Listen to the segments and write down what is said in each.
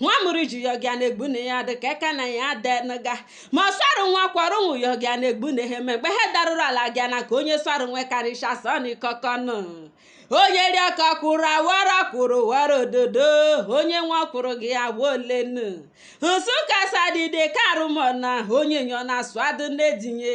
nwa mụrụ ji yọgịa na-egbu na ya dị ka eka na ya denụga ma ọ sọrụ nwa kwọrọ ụmụ yọgịa na-egbu na ha eme mgbe ha darụrụ ala gịa na ka onye sọrụ nwe karịcha sọnikọkọnụ onye ri ọka kwụrụ awara kwụrụ wara ododo onye nwa kwụrụ gị awa olenu nsụka sadide karụmọna onye nyọ na asụ adụ na-edinye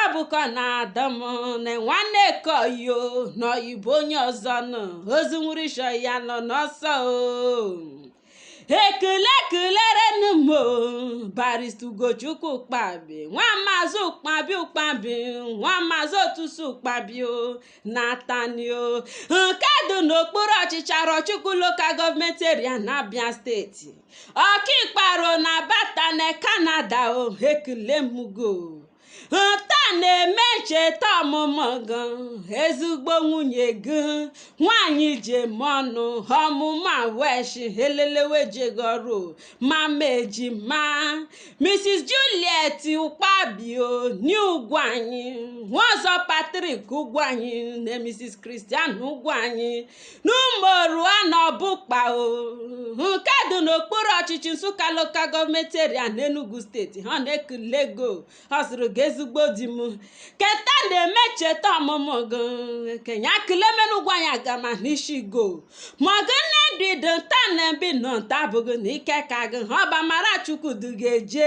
abụkọ na-adọ m na nwanne koyo n'oyibo onye ọzọ nọ ozu nwụrụ ishi ya nọ n'ọsọ o ekele kelerenu m o, barista ugochukwu ụkpabi nwa maazị ụkpabi ụkpabi nwa maazị otusu ụkpabi o n'atani o nke dị n'okpuru ọchịchị arọchukwu local government area na abia steeti ọkaikpe arọ n'alberta na canada o ekele m gị o nta na-eme ncheta ọmụmụ gị ezigbo nwunye gị nwanyị jem ọnụ ọmụma weshi elelewe ejeghị ọrụ mama ejima mrs juliet ụkpabi o nee ugwuanyị nwa ọzọ patrick ugwuanyị na mrs christian ugwuanyị n'ụmụorua n'obukpa nke dị n'okpuru ọchịchị nsụka local government area n'enugu steeti ha na-ekule gị o ọ sịrị gị ezigbo di m keta na-eme ncheta ọmụmụ gị kenya kilemenu ugwu anyị agama n'ishi gị o ma gị nne dị dị nta na ebi nọ nta abụgị n'ike eka gị ha ọ bụ amara chukwu du gị eje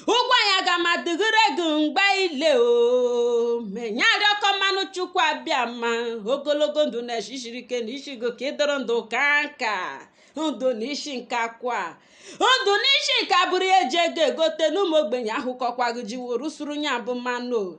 ugwu anyị agama dịgịrị gị mgbe ile o menya arịọkọ manụ chukwu abịama ogologo ndụ na eshi shiri ike n'ishi gị ka ị dụrụ ndụ kaa nka ndụ na ishi nka kwa ndụ na ishi nka bụrụ iye eji ego egote n'ụmụ ogbenye ahụ kọkwa gị ji wuru suru nya bụ mmanụ o.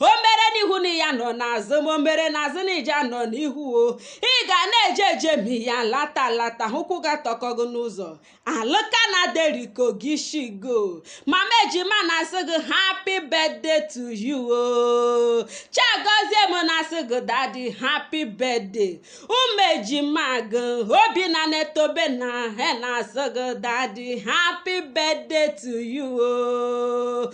o mere n'ihu na ị ya-anọ n'azụ ma o mere n'azụ na ị ja-anọ n'ihu o ị ga na-eje eje ma ị ya-alata alata ụkwụ gị atọkọ gị n'ụzọ alụka na deriko gị shigo mama ejima na-asị gị happy birthday to you o chiagoziem na-asị gị daddy happy birthday ụmụ ejima gị obinna na tobenna he na-asị gị daddy happy birthday to you o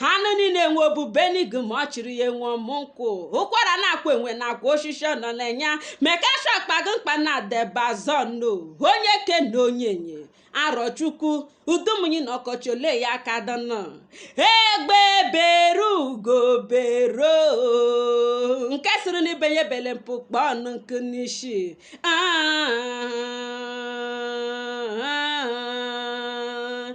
ha nụ niile enwe obu benig ma ọ chịrị ya enwe ọmụ nkwụ ụkwara na-akwa enwe na-akwa oshishi ọ nọ na-enya mekasha kpago mkpa na debazọno onye ke na onye nye arọchukwu udumunyi na ọkọchị ole ya aka dọnọ egbe bere ugo bere o nke sịrị n'ibe ya ebele mpụ kpọọ ọnụ nku n'ishi Ah, ah, ah.